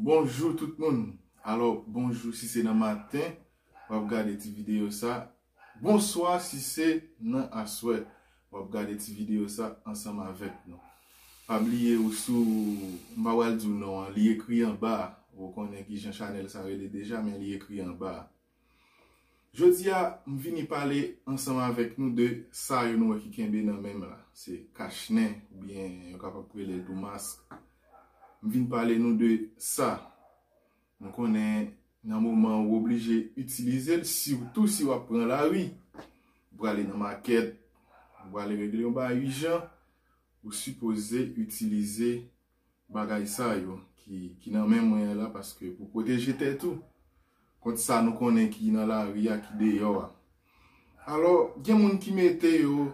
Bonjou tout moun alò bonjou si se nan maten wap gade ti video sa bonswa si se nan aswè wap gade ti video sa ansanm avèk nou pa bliye ou sou m pa pral diw non an li ekri anba a ou konnen kijan chanèl sa rele deja men li ekri anba a. Jodi a, m vini pale ansanm avèk nou de sa yo nou wè ki kenbe nan men m la. Se kach nen oubyen yo kapab rele l tou mask. M vin pale nou de sa. M konnen nan moman ou oblije itilize l, sitou si w ap pran lari, ou prale nan makèt, ou prale regle yon bagay ijan, ou sipoze itilize bagay sa yo ki nan men mwen an la paske pou pwoteje tèt ou kont sa nou konnen ki nan lari a, ki deyò a. Alò, gen moun ki mete yo,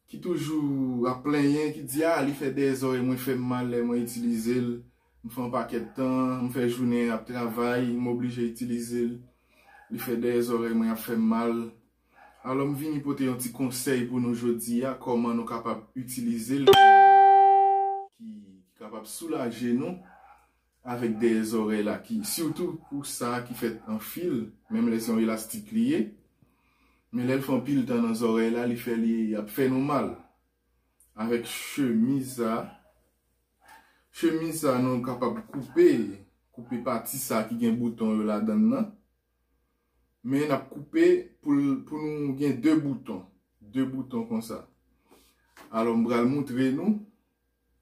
ki toujou ap plenyen, ki di a, li fè dèzò e mwen fè m mal lè mwen itilize l, m fè yon pakèt tan, m fè jounen ap travay, m oblije itilize l, li fè dèzò e mwen ap fè m mal. Alò m vini pote yon ti konsèy pou nou jodi a kòman nou kapab itilize l ki kapab soulaje nou avèk dèyè zòrèy la ki sitou pou sa ki fèt an fil menm lè se yon elastik li ye men lè l fè anpil tan nan zòrèy la li fè li ap fè nou mal avèk chemiz sa chemiz sa nou kapab koupe koupe pati sa ki gen bouton yo ladan l nan. Men nap koupe pou nou gen 2 bouton. 2 bouton konsa. Alò m pral moutre nou.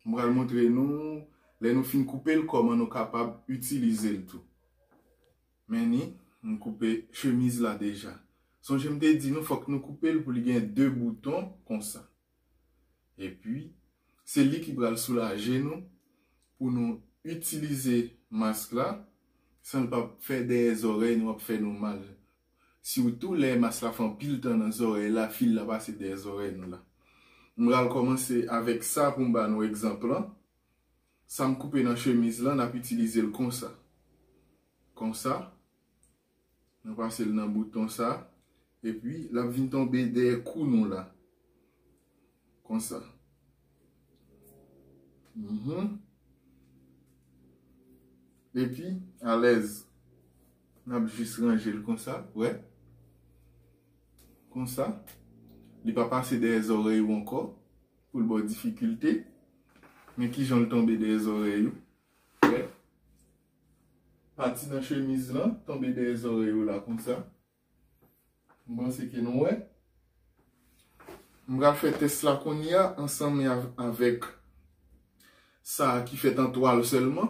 M pral moutre nou. Lè nou fin koupe l kòman nou kapab itilize l tou. Men ni. M koupe chemiz la deja. Sonje m te di nou fòk nou koupe l pou li gen 2 bouton konsa. Epi, se li ki pral soulaje nou pou nou itilize mask la san l pap fè dèyè zòrèy nou ap fè nou mal. Sitou lè mask la fè anpil tan nan zòrèy la, fil la pase dèyè zòrèy nou la. M pral kòmanse avèk sa pou m ba nou egzanp lan. Sa m koupe nan chemiz lan, n ap itilize l konsa. Konsa. Nou pase l nan bouton sa. E pi l ap vin tonbe dèyè kou nou la. Konsa. E pi alèz. N ap jis ranje l konsa. Wè. Konsa. Li pa pase dèyè zòrèy ou ankò. Pou l ba w difikilte. Men ki jan l tonbe dèyè zòrèy ou. Wè. Pati nan chemiz lan tonbe dèyè zòrèy ou la konsa. M panse ke nou wè. M pral fè tès la kounye a ansanm avèk sa ki fèt an twal sèlman.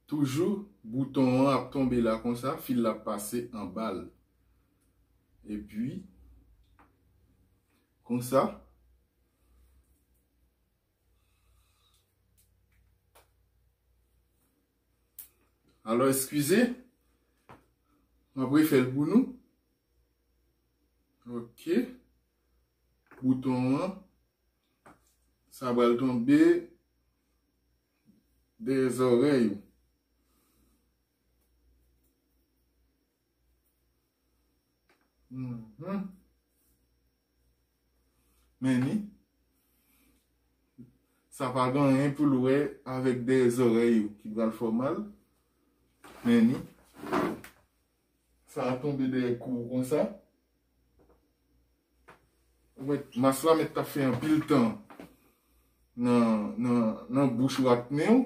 Toujou bouton an ap tonbe la konsa, fil la ap pase anba l. E pi konsa. Alò eskize, mwen ap refè l pou nou. Ok, bouton an, sa bal tonbe dèyè zòrèy ou. Men ni, sa pa gen anyen pou l wè avèk dèyè zòrèy ou ki pral fè w mal. Men ni, sa a tonbe dèyè kou ou konsa. Ou mèt, mas la mèt ta fè anpil tan nan bouch ou ak nen ou.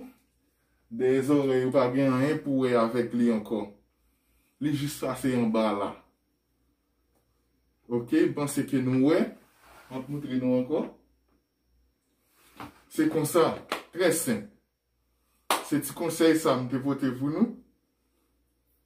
Dèyè zòrèy ou pa gen anyen pou wè avèk li ankò. Li jis pase anba la. Ok, m panse ke nou wè. M ap moutre nou ankò. Se konsa, trè senp. Se ti konsèy sa m te pote pou nou.